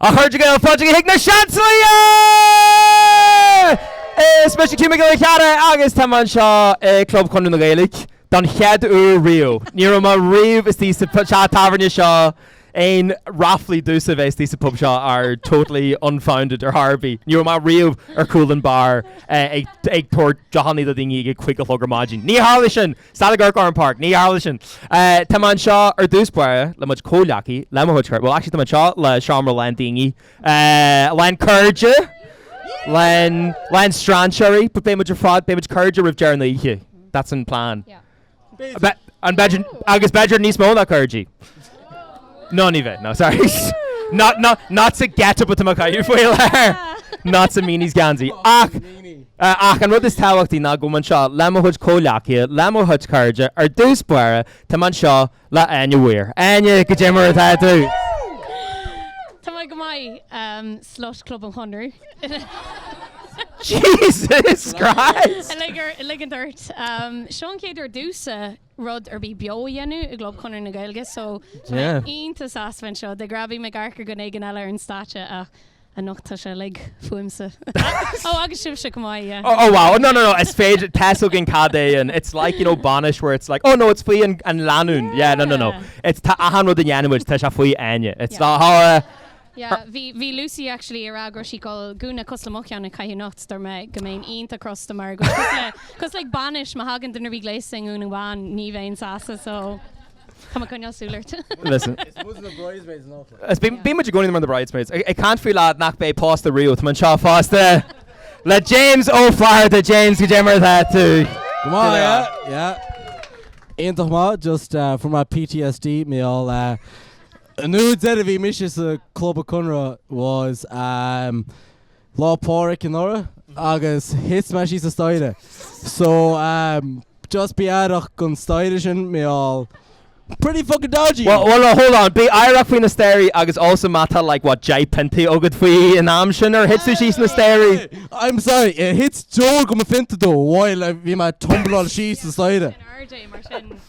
A Chairde Gael, fáilte chuig na Seansálaithe! Is mise Hugh Mac Giolla Chearra agus táim anseo i Club Chonradh na Gaeilge don chéad uair riamh. Ní raibh mé riamh istigh sa pu- sa tábhairne seo aon ráflaí domhsa a bheith istigh sa pub seo are totally unfounded ar chor ar bith. Ní raibh mé riamh ar chúl an bar eh, ag ag tabhairt deochannaí do daoine ag a cúig a chlog ar maidin. Níor tharlaigh sin! Stad ag amharc orm Páraic. Níor tharlaigh sin. Tá mé anseo ar dtús báire le mo chuid comhghleacaithe, le mo chuid cairde, bhuel actually tá mé anseo le seomra lán daoine, lán cairde, lán, lán strainséirí but beidh muid ar fad, beidh muid cairde roimh deireadh na hoíche. That's an plan. An b'fhéidir, agus b'fhéidir níos mó ná cairde. No ní bheidh, no sorry. Not not not to get it but to make you feel better. Not to mean he's geansaí. Ach ach an rud is tábhachtaí ná go bhfuil mé anseo le mo chuid comhghleacaithe, le mo chuid cairde, ar dtús báire tá mé anseo le Áine Weir. Áine, cad é mar atá tú! Tá mé go maith, um, slut Club an Chonradh. Jesus Christ! Uilig ar uilig an dirt. Um, seo an chéad uair domhsa. rud ar bith beo a dhéanamh i gClub Chonradh na Gaeilge so tá mé iontach sásta bheith anseo. De ghnáth bíonn mé ag amharc ar dhuine éigin eile ar an stáitse ach anocht tá sé uilig fúmsa. Ó agus sibhse chomh maith yeah. Oh wow no no no is féidir tá a fhios againn cad é an it's like you know bainis where it's like oh no it's faoi an an lánúin yeah no no no it's tá achan rud a dhéanfaimid tá sé faoi Áine it's not ha ha Yeah, bhí, bhí Lucy actually a' rá go raibh sí ag gabháil gúna cosúil le mo cheann a chaitheamh anocht, dúirt mé go mbeinn iontach crosta mar go bhfuil cosúil le, cos like bainis, má thagann duine a bhí gléasta i ngúna bhán ní bheinn sásta so tá mé ag coinneáil súil ort. Listen. Is muid na bridesmaids anocht like. Is bhí, bhí muid ag coinneáil mar na bridesmaids. Ag, ag caint faoi lad nach mbeidh pósta riamh, tá mé anseo fosta le James Ó Flatharta. James, cad é mar atá tú? Go maith, yeah, yeah. Iontach maith, just eh, from my PTSD, mé all eh, An uair deireadh bhí mise sa Club Conradh was ehm Lá Pádraig anuraidh agus thit mé síos an staighre so ehm just bí aireach gon staighre sin mé all pretty fucking dodgy! Bhuel bhuel hold on, bí aireach faoi na staighrí agus also má tá like what 10 piontaí agat faoin am sin ar thit tú síos na staighrí? I'm sorry níor thit deoir go mo phionta though while bhí mé ag tumbláil síos an staighre.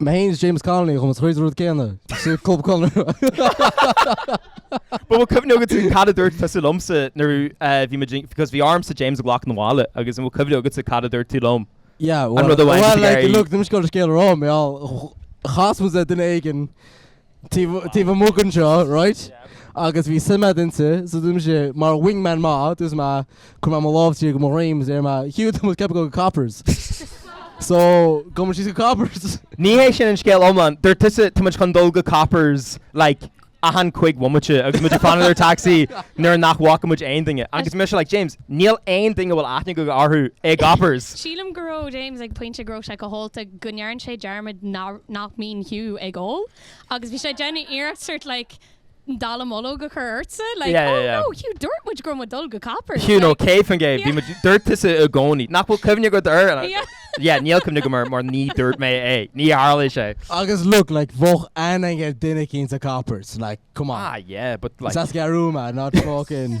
Má théanns James Connolly chun na troid an rud céanna. Sa Club Chonradh. But an bhfuil cuimhne agat tú cad a dúirt tusa liomsa nuair eh, bhí muid in- because bhí ormsa James a ghlacadh 'na bhaile agus an bhfuil cuimhne agatsa cad a dúirt tú liom. Yeah, An well, rud a bhain well, tú like, ar- look, dim scéal scéal rá mé all chas mé duine éigin taobh amuigh den seo raight agus bhí suim a'd inti so dúirt mise mar wing man maith dúirt mé chuir mé mo lámh tí go mo dhroim so dúirt mé Hugh tá muid ag ceapadh go Coppers so gabhaimid síos go Coppers. Ní hé sin an scéal iomlán. Dúirt tusa tá muid chun dul go Coppers like achan cúig bhomaite agus muid ag fanacht ar taxi nuair nach bhfaca muid aon duine agus mise like James níl aon duine a bhfuil aithne aige orthu i gCoppers. Sílim go raibh James ag pointe go raibh sé chomh hólta. go ndearn sé dearmad nach mbíonn Hugh ag ól agus bhí sé ag déanamh iarracht sort like dallamullóg a chur ortsa like oh no Hugh dúirt muid go raibh muid dul go Coppers. Hugh no cibé cén chaoi bhí muid dúirt tusa i gcónaí nach bhfuil cuimhne agat air and I was like yeah níl cuimhne agam air mar ní dúirt mé é ní tharla sé. Agus look like bheadh aithne a'd ar dhuine éicínt sa Coppers like come on. Ah yeah but like. Is as Gorumna not fucking.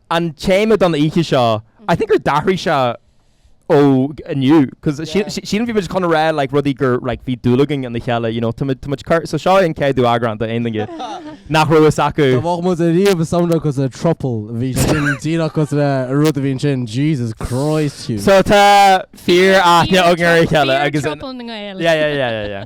An téama don oíche seo, I think ar athraigh sé ó inniu cause sílim, sílim bhí muid chun a rá like rudaí gur like bhí dúil againn ina chéile you know tá muid, tá muid cur, so seo é an céadú eagrán do aon duine nach raibh fhios acu. Dá bhfágfadh muid ariamh i samhradh cause le trouble bhí sé sin díreach cause le rud a bhí ansin Jesus Christ Hugh. So tá fíor aithne againn ar a chéile agus yeah yeah yeah yeah yeah.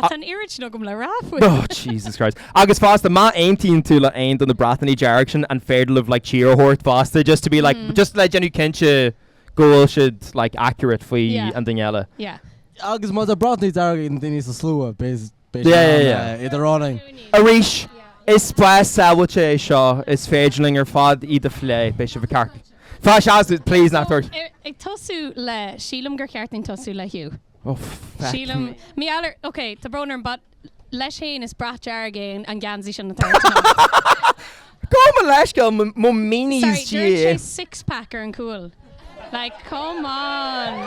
Ach tá an oiread sin agam le rá faoi. Oh Jesus Christ. Agus fosta, má aontaíonn tú le aon duine de na bratacha dearga sin is féidir libh like cheer a thabhairt fosta just to be like, just le déanamh cinnte go bhfuil siad like accurate faoi Yeah. an duine eile. Yeah. Agus má tá bratacha dearga ag na daoine sa slua b'é b'é Yeah, sin yeah, an yeah. eh, idir ár n-aon. Arís, is spás sábháilte é seo, is féidir linn ar fad iad a phlé, beidh sibh i gceart. Fáis as, please, nach tabhairt. Ar- ag tosú le, sílim gur cheart linn tosú le Hugh. O, feck Sílim, me. mé eile, ok, tá brón orm, but leis fhéin is brat dearg é an geansaí sin atá ort anocht. Gabh mo leithscéal, mo, mo meanies Sorry, dúirt sé Dia. six pack ar an cúl. Like, come on!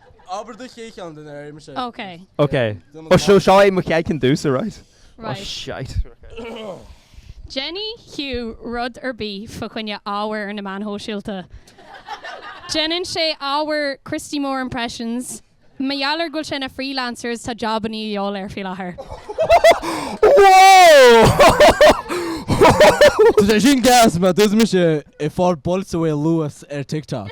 Abair do chéad cheann de na réimis é. Ok. Ok. Ó so seo é mo chéad cheann dtús, alright. Ó Right. shite. Déanann Hugh rud ar bith fá choinne ábhar ar na meáin shóisialta. Déanann sé ábhar Christy Moore Impressions. Mar gheall ar go bhfuil sé ina freelancer is tá jobannaí a dhíobháil air faoi láthair. Tá sé sin gas mar dúirt mise a chur bualtaí suas ar TikTok.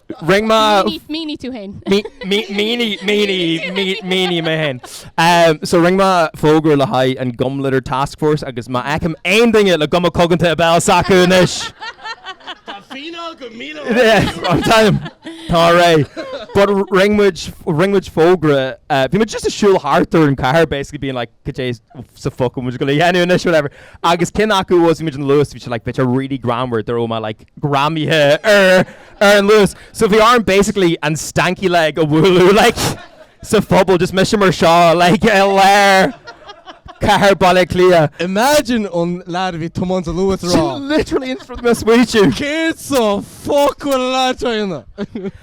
Rinn mé Mínigh tú féin. Mínigh mé féin. So rinn mé fógra le haghaidh an Gum Litter Task Force agus má fheicim aon duine le guma coganta sa bhéal s'acu anois! Tá fíneáil go míle euro. Alright. But rinn muid fógra. Bhí muid just ag siúl thart ar an cathair basically being like Cad é sa fuck atá muid ag dul a dhéanamh anois whatever. Agus cinn acu was imagine Luas bhí sé like bit of really greamaithe go raibh mé like greamaithe ar ar an Luas. So bhí orm basically an stanky leg a bhualadh like sa phuball just mise mar seo like i lár cathair Baile Átha Cliath. Imagine an leaid a bhí ag tiomáint an Luas a rá. Literally in front of me ag smaoitiú. Céard sa fuck atá an leaid seo a dhéanamh?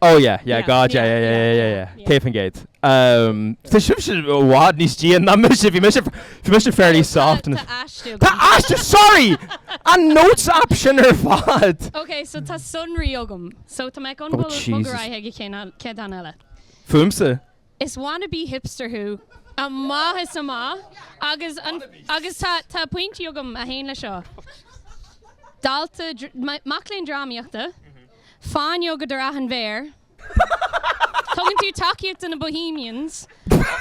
Oh yeah, yeah, God yeah, yeah, yeah, yeah, yeah, céad faoin gcéad. Tá sibhse i bhfad níos déine ná mise, bhí mise, bhí mise fairly soft in a. Tá aistear agam. Tá aistear, sorry! An notes app sin ar fad! Ok, so tá sonraí agam. So tá mé in ann bualadh, bog ar aghaidh chuig an chéad cheann eile. Fúmsa. Is wannabe hipster thú, maith is maith, agus an, agus tá, tá pointí agam a théann le seo. Dalta, mac léinn drámaíochta. Fáinne agat ar achan mhéar. Tugann tú tacaíocht do na Bohemians.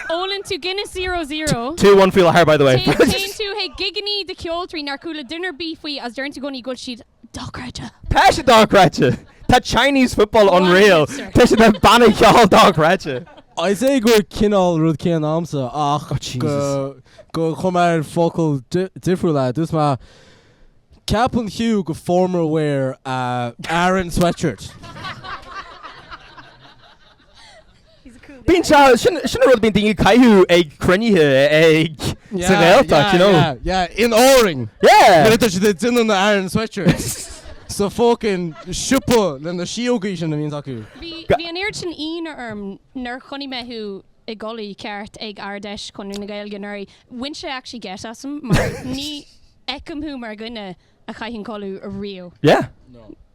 Ólann tú Guinness Zero Zero. Two one faoi láthair, by the way. Téann tú chuig gigeannaí do cheoltoirí nár chuala duine ar bith faofa agus deireann tú i gcónaí go bhfuil siad dochreidte. Tá siad dochreidte! Tá Chinese football unreal! Tá siad ina mbanna ceoil dochreidte! I'd say gur cineál rud céanna a'msa ach gur chum mé ar fhocal difriúil é. Dúirt mé. Ceapann Hugh gur formal wear é Aran sweatshirt. Bíonn sé, sin, sin an rud a bhíonn daoine ag caitheamh ag cruinnithe ag, sa Ghaeltacht, you know. Yeah, yeah, yeah, in Árainn. Yeah! Nuair a tá siad ag déanamh na Aran sweatshirts. Sa fucking siopa le na síógaí sin a bhíonn acu. Bhí, bhí an oiread sin ionadh orm nuair chonaic mé thú i gculaith cheart ag Ard-Fheis Chonradh na Gaeilge anuraidh, bhain sé actually geit asam mar ní, fheicim thú mar dhuine a chaithfeadh culaith ariamh. Yeah.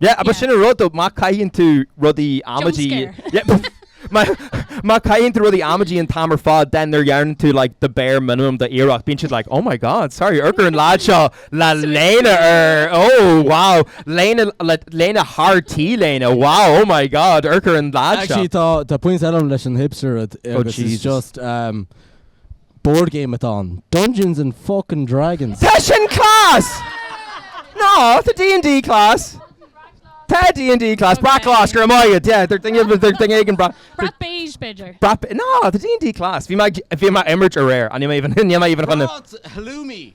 Yeah, agus sin an rud though, má chaitheann tú rudaí amaidí, yeah, má chaitheann tú rudaí amaidí an t-am ar fad then nuair a dhéanann tú like the bare minimum d'iarracht, bíonn siad like oh my god, sorry, ar chuir an lead seo le léine air, oh wow, léine, léine thar T-léine, wow, oh my god, ar chuir an lead seo. Actually, tá, tá pointe eile leis an hipster rud, agus it's just, um, Board game atá ann. Dungeons and fuckin Dragons! Tá sin class! No, tá D&D class. Tá D&D class. Brat glas, go raibh maith agat. Yeah, they're thinking of, they're thinking of brat. Brat beige, b'fhéidir. Brat, no, tá D&D class. Bhí mé, bhí mé ag imirt aréir. Níl mé even, níl mé even chun. Brat halloumi.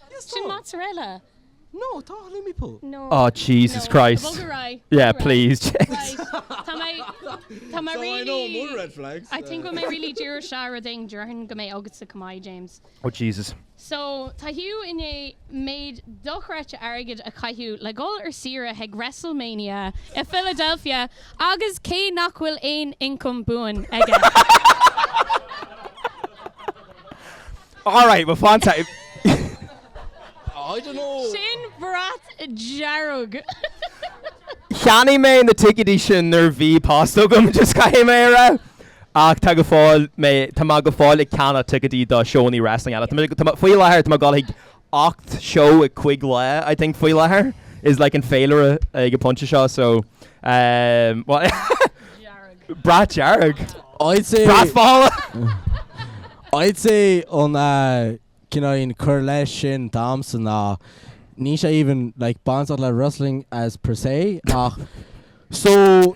Yes tá. Sin mozzarella. No, tá halloumi pull. No. Aw Jesus Christ. No, bog ar aghaidh. Yeah, please Jesus. Right. Tá mé, tá mé really. So I know more red flags. I think go mbeidh mé really, déarfaidh sé rud éigin, déarfainn go mbeidh agatsa comeback James. Oh Jesus. So tá Hugh i ndiaidh méid dochreidte airgid a chaitheamh le dhul ar saoire chuig WrestleMania i Philadelphia agus cé nach bhfuil aon ioncam buan aige. Alright, well fantastic. I don't know. Sin brat dearg. Cheannaigh mé na ticéidí sin nuair a bhí post agam, just caithfidh mé a rá. Ach tá go fóill mé, tá mé go fóill ag ceannach ticéidí do seónna wrestling eile. Tá mé faoi láthair, tá mé ag dul chuig 8 seó i cuig lá I think faoi láthair is like an féilire ag an pointe seo so ehm Brat Dearg I'd say Brat Mhála I'd say an cineál cúis leis sin damsa ná ní sé even like bainteach le wrestling as per se ach so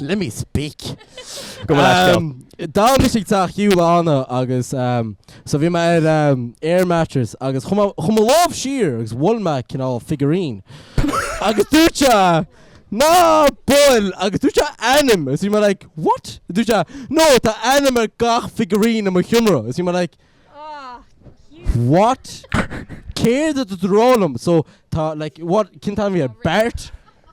Let me speak. Go Glasgow. Ehm, d'fhan mise i dteach Hugh ann agus, ehm, so bhí mé ar, ehm, air mattress agus chuir mé, chuir mé mo lámh siar agus bhuail mé cineál figurine. Agus dúirt sé, Ná buail! Agus dúirt sé ainm agus bhí mé like, what? Dúirt sé, No, tá ainm ar gach figurine i mo sheomra. Agus bhí mé like, what? Céard atá tú ag rá liom? So tá like, what, cén t-ainm a bhí air? Bart?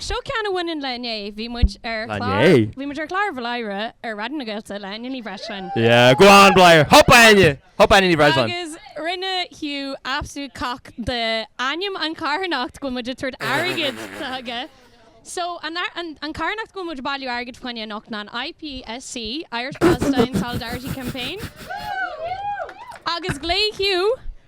Seo ceann a bhaineann le inné. Bhí muid ar chlár, bhí muid ar chlár Bhladhaire ar Raidió na Gaeltachta le Áine Ní Bhreisleáin. Yeah, go on Bladhaire! Hup Áine! Hup Áine Ní Bhreisleáin! Agus rinne Hugh absolute cock de ainm an carthanacht go bhfuil muid ag tabhairt airgid chuige. So, an an carthanacht go bhfuil muid ag bailiú airgid faoina choinne anocht ná an IPSC, Irish Palestine Solidarity Campaign. Woo! Agus ghlaoigh Hugh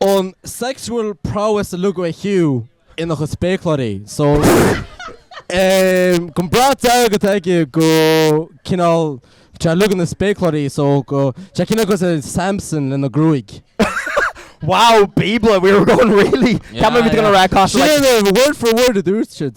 an sexual prowess uilig atá ag Hugh ina chuid spéacláirí so go brat dearg atá aige go cineál tá uilig ina spéacláirí so go tá cineál go Samson lena gruaig. Wow bíobla we were going really yeah, yeah. gonna wreck off like... word for word a dúirt siad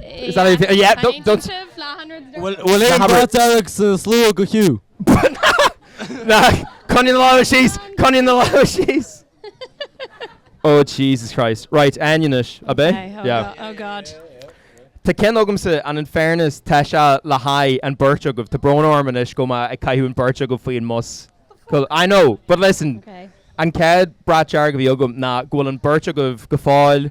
Is that how you feel? Yeah, don't- Caithfidh don't- sibh leath an rud a dúirt. Bhfuil aon Leathanbhar. bhrat dearg sa slua do Hugh? Na, coinnigh na lámha síos, coinnigh na lámha síos. Oh Jesus Christ. Right, Áine anois, ab é? Okay, oh Yeah. go- oh God. Tá ceann agamsa and in fairness tá sé le haghaidh an bheirt agaibh. Tá brón orm anois go mbeidh mé ag caitheamh an bheirt agaibh faoin mbus. Cool. I know, but listen, Okay. an chéad bhrat dearg a bhí agam ná go bhfuil an bheirt agaibh go fóill,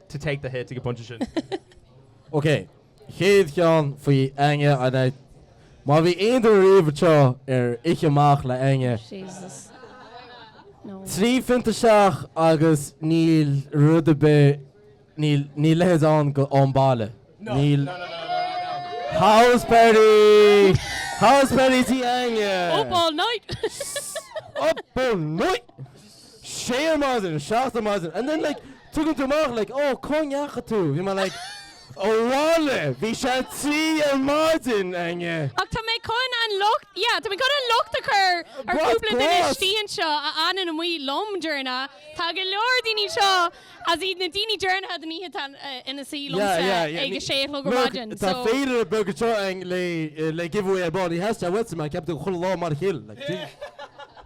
to take the hit ag an bpointe sin. OK, chéad cheann faoi Áine, an ea? Má bhí aon duine riamh anseo ar oíche amach le Áine, Jesus. No. trí phionta isteach agus níl rud ar bith, níl, níl leithéid ann go home, abhaile. Níl. House party! House party tigh Áine! Up all night! Up all night! sé ar maidin, seacht ar maidin and then like tugann tú amach like oh cá ndeacha tú? Bhí mé like abhaile, bhí sé trí ar maidin Áine. Ach tá mé chun an locht yeah tá mé chun an locht a chur ar Brat chúpla duine brat! istigh anseo a fhanann amuigh liom deireanach. Tá go leor daoine anseo is iad na daoine deireanacha den oíche atá ina suí Yeah liomsa yeah yeah ag a sé a chlog ar look maidin tá so féidir a beag anseo eng le le give away a body has she I went to my ceapann tú go chuile lá mar a chill like Jesus.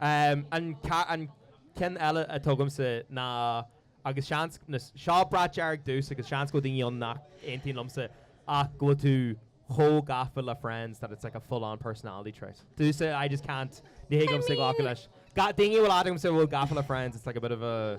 An ceann eile atá agamsa ná, agus seans, seo brat dearg domhsa agus seans go bhfuil daoine ann nach aontaíonn liomsa, ach go bhfuil tú chomh gafa le Friends that it's like a full-on personality trait. Domhsa, I just can't, ní thig liomsa glacadh leis. Daoine a bhfuil agamsa a bhfuil gafa le Friends, it's like a bit of a.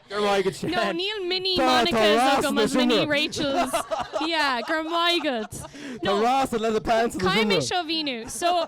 No, níl mini Monica's agam is mini Rachel's. Yeah, go raibh maith agat. No, caithfidh mé seo a mhíniú. So,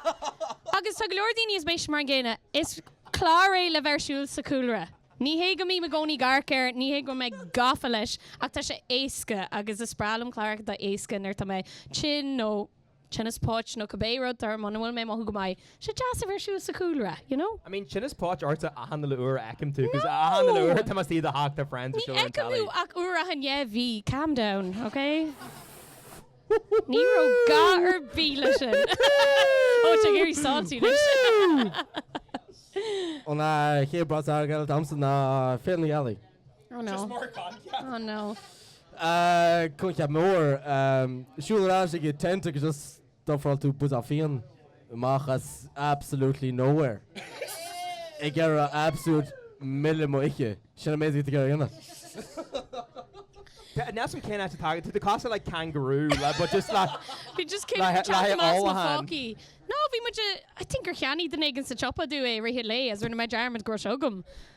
agus tá go leor daoine is mise mar an gcéanna, is clár é le bheith ar siúl sa chúlra. Ní hé go mbím i gcónaí ag amharc air, ní hé go bhfuil mé gafa leis, ach tá sé éasca agus is breá liom cláracha atá éasca nuair tá mé tinn nó. tinneas póite nó cibé rud or muna bhfuil mé ag mothú go maith, sé deas a bheith ar siúl sa chúlra, you know? I mean, tinneas póite ortsa achan uile uair a fheicim tú, cos achan uile uair atá mé istigh i do theach tá friends ar siúl ar an telly. Ní fheicim thú ach uair achan dhá mhí, calm down, ok? Ní raibh gá ar bith leis sin. Ó, tá tú ag éirí salty le sin. An chéad brat dearg eile atá agamsa ná Féile na Gealaí. Oh no. Just more coincheap. Oh no. Ahh coincheap mór. Umm siúl ar ais ag an tent agus just d'ofráil tú buidéal fíon amach as absolutely nowhere ag iarraidh absolute milleadh m'oíche. Sin an méid a bhí tú ag iarraidh a dhéanamh. Tá neas an cén áit atá agat tú. Tá tú cosúil le kangaroo le but just le Bhí just céim le teacht le amach as mo h-ollacháin. phócaí. No bhí muid i think gur cheannaigh duine éigin sa tsiopa domh é i rith an lae is rinne mé dearmad go raibh sé agam.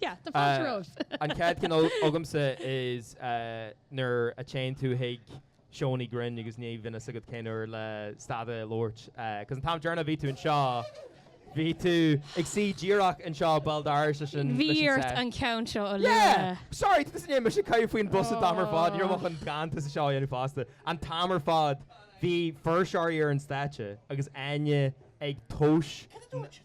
Yeah, tá fáilte romhaibh. An chéad cheann agamsa is nuair a téann tú chuig seónna grinn agus ní bhíonn fhios agat cén uair le stad a labhairt. Cos an t-am deireanach a bhí tú anseo, bhí tú ag suí díreach anseo bhuel d'éirigh sé sin leis an set. Bhí ort an ceann seo a lua. Yeah! Sorry, didn't see him. Mise ag caint faoin bus an t-am ar fad. Ní raibh mé chun rant as an seó a dhéanamh fosta. An t-am ar fad bhí fuirseoirí ar an stáitse agus Áine ag tomhais... Cad a dúirt siad?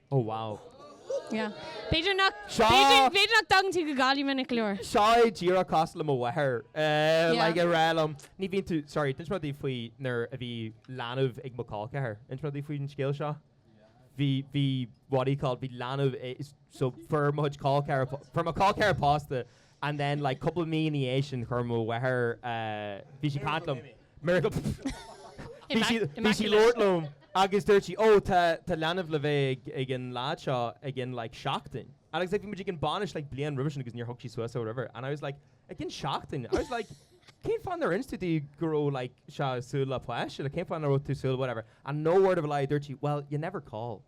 Oh wow. Yeah. B'fhéidir nach, b'fhéidir nach dtagann tú go Gaillimh minic go leor. Seo é díreach cosúil le mo mháthair. Eh, like ag rá liom, ní bhíonn tú, sorry, d'inis mé duit faoi nuair a bhí leanbh ag mo colceathair. D'inis mé duit faoi an scéal seo? Bhí, bhí, what do you call it, bhí leanbh, so fuair mo chuid colceathair, fuair mo colceathair pósta and then like cúpla mí ina dhiaidh sin chuir mo mháthair eh bhí sí ag caint liom miracle bhí sí bhí sí ag labhairt liom agus dúirt sí ó tá tá leanbh le bheith ag ag an lead seo ag in like seachtain agus like bhí muid ag an bhainis like bliain roimhe sin agus níor thug sí suas é or whatever and I was like ag in seachtain I was like cén fáth nár inis tú go raibh like sé ag súil le páiste like cén fáth nach raibh tú ag súil whatever and no word of a lie dúirt sí well you never call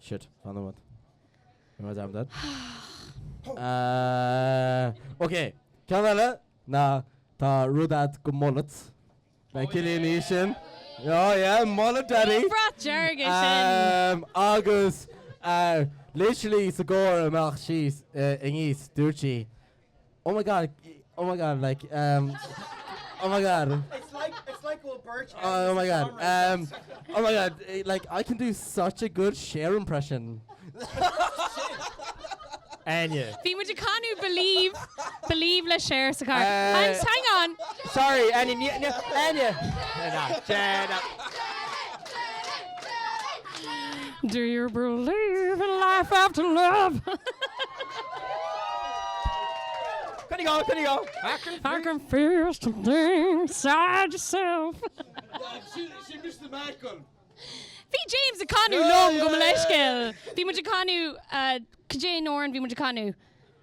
Shit, fanadh uait. Am I damn dead? Ahh ok, ceann eile ná tá rud atá go mullet. ag Cillian anois sin. Oh yeah, mullet daddy! Brat dearg é sin! Agus literally sa gcarr amach anseo inniu dúirt sí Oh my god, oh my god, like, um, oh my god. It's like, it's like we'll birch Oh my god, um, oh my god, eh, like, I can do such a good share impression. Anya. Bhí muid a canú believe, believe le share sa car. Uh, I'm, hang on. Sorry, Anya, Anya, Anya. Jenna, Jenna. Do you believe in life after love? There you go, there you go. I can, I can feel something inside yourself. she, she missed the mark on. Bhí James a canú lom go leiscéil. Bhí mu canú uh, cé nóir an bhí mu canú.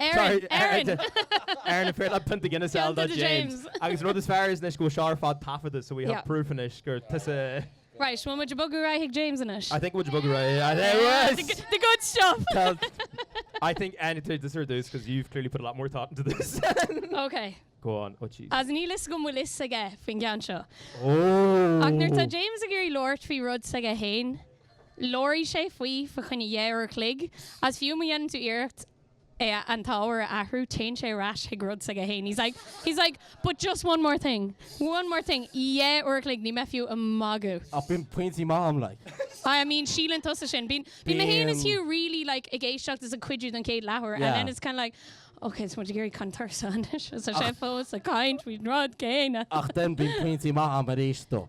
Erin! Erin! Erin is fearr léi pionta Guinness ná James. Agus an rud is fearr faoi seo anois go bhfuil sé ar fad ar taifead so we have proof anois gur tusa. Right, bhfuil muid ag bogadh ar aghaidh ag James anois? I think muid ag bogadh ar aghaidh ar aghaidh ar aghaidh! Yeah, the good stuff! Tá, I think imigh tusa ar dtús cos you've clearly put a lot more thought into this than. Ok. Go on, oh jeez. Is níl fhios agam bhfuil fhios aige faoin cheann seo. Ach nuair atá James ag iarraidh labhairt faoi rud s'aige fhéin. Labhróidh sé faoi fa choinne deich n-uair a chloig agus fiú má dhéanann tú iarracht é a an t-ábhar a athrú téann sé ar ais chuig rud s'aige fhéin. He's like, he's like, but just one more thing, one more thing. Deich n-uair a chloig, níl mé fiú ag magadh. Ach bíonn pointí maithe a'm like. I mean síleann tusa sin. Bíonn, bíonn mé fhéin is Bíonn. Hugh really like ag éisteacht is ag cuidiú don chéad leathuair and Yeah. then it's kind of like, Ok, tá muid ag iarraidh caint faoi rud anois is tá sé fós ag caint faoin rud céanna. Ach then bíonn pointí maithe a'm ar ais dó.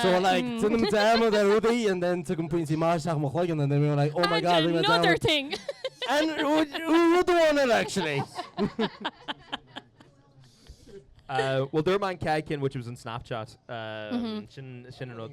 So like déanaim dearmad ar rudaí and then tagann pointí maithe isteach i mo chloigeann and then bím like, oh my god, rinne mé dearmad. And another thing! And rud amháin eile actually. Bhuel dúirt mé an chéad cheann which was an Snapchat. Sin an rud.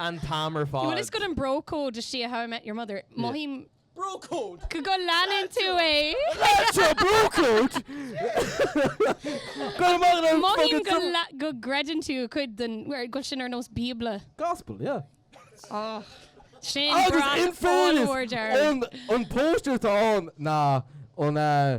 an t-am ar fad. Bhuel, is cad é an bro code de chuid How I Met Your Mother. Mothaím Bro code! go go leanann tú é. Seo bro code! Go amach le Mothaím go, la- go gcreideann tú cuid den bhfuil go sin ar nós Bíobla. Gospel, yeah. Oh. Sin Agus brat in fairness, dearg. an, an póster tá ann ná an uh,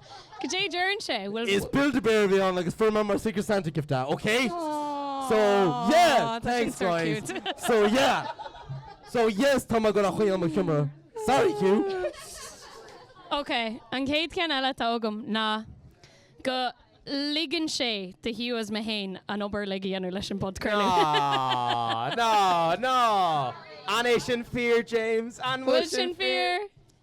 Cad é a deireann sé? Bhfuil. Is Build-A-Bear a bhí ann agus fuair mé mar Secret Santa gift é, ok? So, yeah! Aww, tá sin Thanks, so guys. cute. So, yeah! So, yes, tá mé ag rá go bhfuil sé i mo sheomra. Sorry, Hugh! Ok, an chéad cheann eile atá agam ná go ligeann sé do Hugh is mé féin an obair a dhéanamh leis an bpodchraoladh. No, no, no! An é sin fíor, James? An bhfuil sin fíor?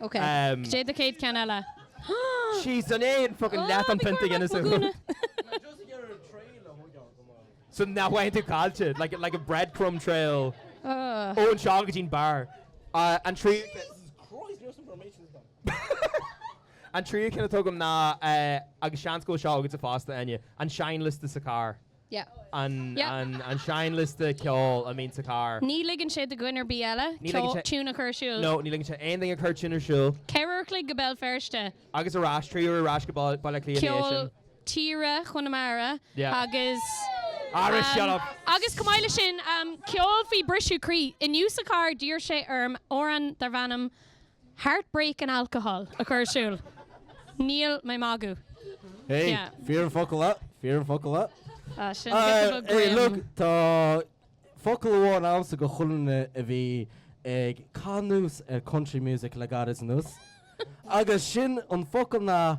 Ok. Caidé do chéad cheann eile? Sheesh, an é an fucking leath an phionta Guinness a shú? So nach bhfaigheann tú caillte? Like like a breadcrumb trail ón suíochán go dtí'n beár. An tríú An tríú ceann atá agam ná, agus seans go bhfuil seo agatsa fosta, Áine, an seinnliosta sa charr. an seinnliosta ceoil a mbíonn sa charr. Ní ligeann sé do dhuine ar bith eile ceol, tiún a chur ar siúl. No, ní ligeann sé aon duine cur tiún ar siúl. Ceithre uair a chloig go Béal Feirste. Agus ar ais, trí uair ar ais go Baile Átha Cliath ina dhiaidh sin. Ceol tíre Chonamara agus. Ara shut up! Agus chomh maith le sin, ceol faoi briseadh croí. Inniu sa charr d'iarr sé orm amhrán darb ainm. Heartbreak and alcohol a chur ar siúl. Níl mé magadh. Hey, Yeah. fíor an focal é, fíor an focal é. Ah, sin Ah, Victor Bug hey, Graham. look, tá focal amháin agamsa do chuile dhuine a bhí ag caitheamh anuas ar country music le gairid anuas. Agus sin an focal ná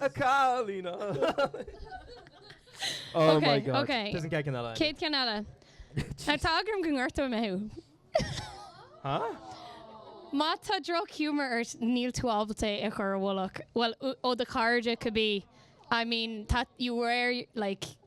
A chailín! Oh my God. Ok, ok. Doesn't get another. Chéad cheann eile. Tá eagla orm go ngortóidh mé thú. Huh? Má tá drochghiúmar ort níl tú ábalta é a chur i bhfolach. Bhuel, ó do chairde cibé. I mean, tá, you wear, like.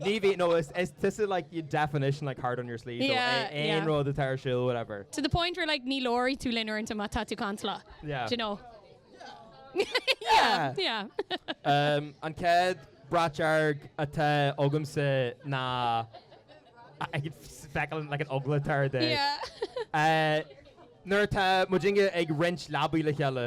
Ní bhíonn, no is is tusa like your definition like heart on your sleeve so Yeah, a- aon yeah. rud atá ar siúl whatever. To the point where like ní labharfaidh tú linn uaireanta má tá tú cantalach. Yeah. Do you know? Yeah. Yeah. Um, an chéad brat dearg atá agamsa ná I I could f- feiceáil an like an eagla atá ar Dé. Yeah. Eh, nuair atá muidinne ag roinnt leabaidh le chéile.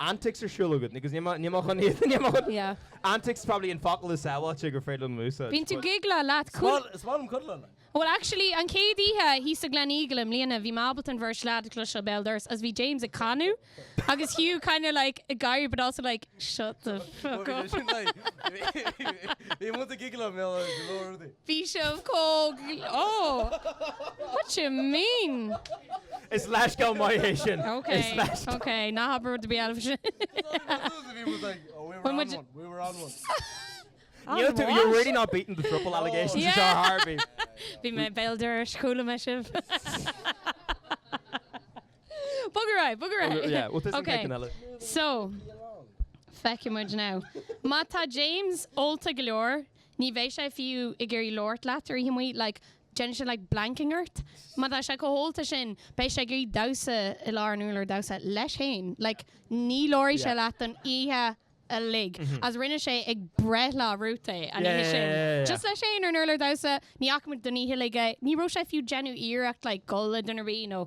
Antics ar siúl agat? Agus níl mé chun iad, níl mé chun. Yeah. Antics is probably an focal is sábháilte gur féidir liom a úsáid. Bíonn tú giggle leat. Is maith, is maith liom cuddle leat. Bhuel actually, an chéad oíche thíos sa Gleneagle i mbliana, bhí mé ábalta an bheirt leaid a chloisteáil béal dorais agus bhí James ag canadh agus Hugh kinda like ag gáire but also like, shut the fuck up. Bhí muid ag giggle leo go leor rudaí. Bhí sibh chomh, oh, what you mean? Is leithscéal maith é sin. Ok, ok, ná habair rud ar bith eile freisin. You're really not beating the throuple allegations anseo ar chor ar bith. Bhí mé béal dorais, chuala mé sibh. Bog ar aghaidh, bog ar aghaidh. Yeah, well, this is taking a little. So, feicfimid now. Má tá James ólta go leor, Ní bheidh sé fiú ag iarraidh labhairt leat ar oíche amuigh, like, déanfaidh sé like blanking ort. Má tá sé chomh hólta sin, beidh sé ag iarraidh damhsa i lár an úrláir damhsa leis fhéin, like, ní labharfaidh sé leat don oíche uilig. Is rinne sé ag breithlá Ruth é an oíche sin, just leis fhéin ar an urlár damhsa, ní fhaca muid don oíche uilig é. Ní raibh sé fiú déanamh iarracht like goil le duine ar bith nó.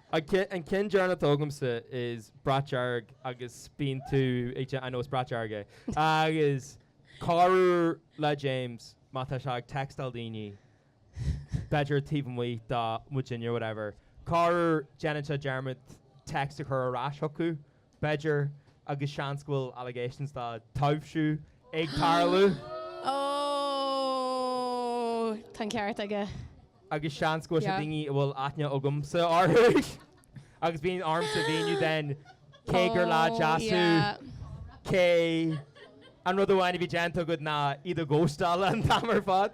An ceann deireanach atá agamsa is brat dearg agus bíonn tú, I know it's brat dearg é, agus corruair le James má tá sé ag textáil daoine, b'fhéidir taobh amuigh de muidinne whatever, corruair déanann sé dearmad text a chur ar ais chucu. B'fhéidir, agus seans go bhfuil allegations de taibhsiú ag tarlú. Ó, tá an ceart aige. Agus seans go bhfuil sé daoine a bhfuil aithne agamsa orthu agus bíonn ormsa a mhíniú then cé gur lad deas thú, cé an rud amháin a bhí déanta agat ná iad a ghostáil an t-am ar fad.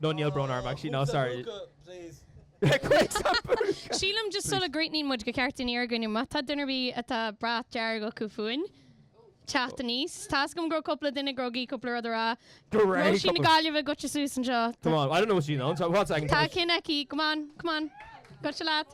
No, níl brón orm actually, no, sorry. Cuid sa phúca! Sílim just sula gcríochnaíonn muid gur cheart dúinn iarraidh ar dhaoine má tá duine ar bith atá brat dearg acu fúinn teacht aníos. Tá as agam go raibh cúpla duine grogaí cúpla rud a rá. Go raibh Róisín na Gaillimhe goitse suas anseo. Come on, I don't know what you know. What's I can Tá ceann aici, come on, come on. Goitse leat.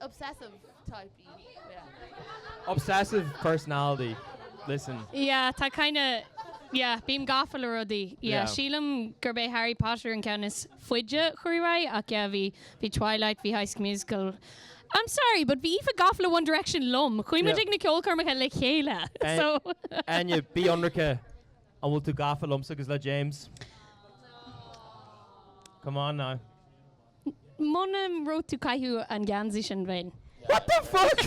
Obsessive type í. Yeah. Obsessive personality. Listen. Yeah, tá kinda, yeah, bím gafa le rudaí. Yeah, Yeah. sílim gurb é Harry Potter an ceann is faide a chuaigh ar aghaidh ach yeah, bhí, bhí Twilight, bhí High School Musical. I'm sorry, but bhí Aoife gafa le One Direction liom. Chuaigh muid Yeah. ag na ceolchoirmeacha le chéile. Eh, So, Áine, bí ionraic, an bhfuil tú gafa liomsa agus le James? Come on now. Muna raibh tú ag caitheamh an geansaí sin bheinn. What the fuck?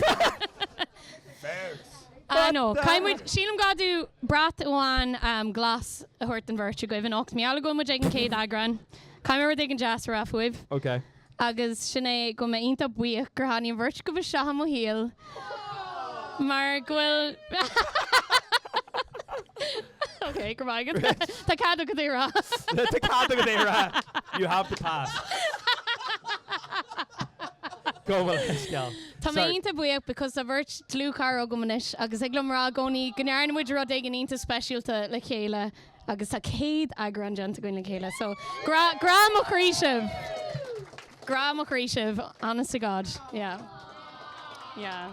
Ah no, caithfidh muid, sílim gur gá dúinn brat amháin glas a thabhairt don bheirt agaibh anocht. Mar gheall go bhfuil muid ag an chéad eagrán. Caithfidh mé rud éigin deas a rá fúibh. Ok. Agus sin é go bhfuil mé iontach buíoch gur tháinig an bheirt agaibh isteach i mo shaol mar go bhfuil. Ok, go raibh maith agat. Tá cead agat é a rá. Tá cead agat é a rá. You have the pass. Gabh mo leithscéal. Tá mé iontach buíoch because tá beirt dlúthchara agam anois agus thig liom a rá i gcónaí go ndearna muid rud éigin iontach speisialta le chéile agus tá 100 eagrán déanta againn le chéile so grá, grá mo chroí sibh. Grá mo chroí sibh, honest to God. Yeah. Yeah.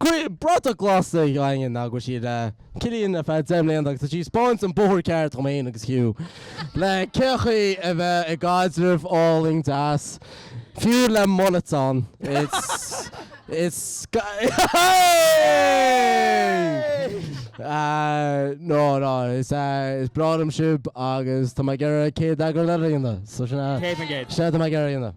Cuireadh bratach glas ag Áine go bhfuil sí le Cillian ar feadh deich mbliana agus tá sí ag 'speáint an bóthar ceart dhom fhéin agus Hugh le cé chaoi a bheith i gcaidreamh álainn deas fiú le mullets ann. It's it's No no is is breá liom sibh agus tá mé ag iarraidh céad eagrán eile a dhéanamh so sin é. Céad na gcéad. Sin atá mé ag iarraidh a dhéanamh.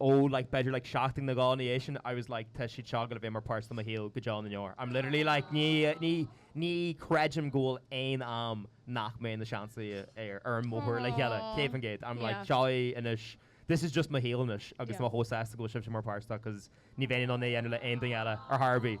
ó like b'fhéidir like seachtain nó dhó ina dhiaidh sin I was like tá siad seo ag gabháil a bheith mar pháirt de mo shaol go deo na ndeor. I'm literally like ní, ní, ní chreidim go bhfuil aon am nach mbeidh muid sa seans ann ar, ar an mbóthar le chéile, Aww. céad faoin gcéad. I'm like Yeah. seo é anois, this is just mo shaol anois agus Yeah. tá mé chomh sásta go bhfuil sibhse mar pháirt de 'cause ní bheinn in ann é a dhéanamh le aon duine eile ar chor ar bith.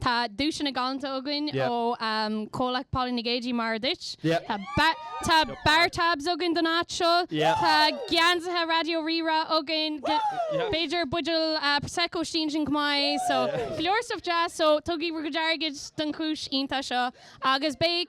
Tá duaiseanna galanta againn ó Chomhlacht Puball na gCéadfaí mar a dúirt. Tá bar tabs againn don áit seo. Tá geansaithe Raidió Rí-Rá againn. B'fhéidir buideal Prosecco istigh ansin chomh maith. So go leor stuff deas. So tugaigí bhur gcuid airgid don chúis iontach seo agus beidh.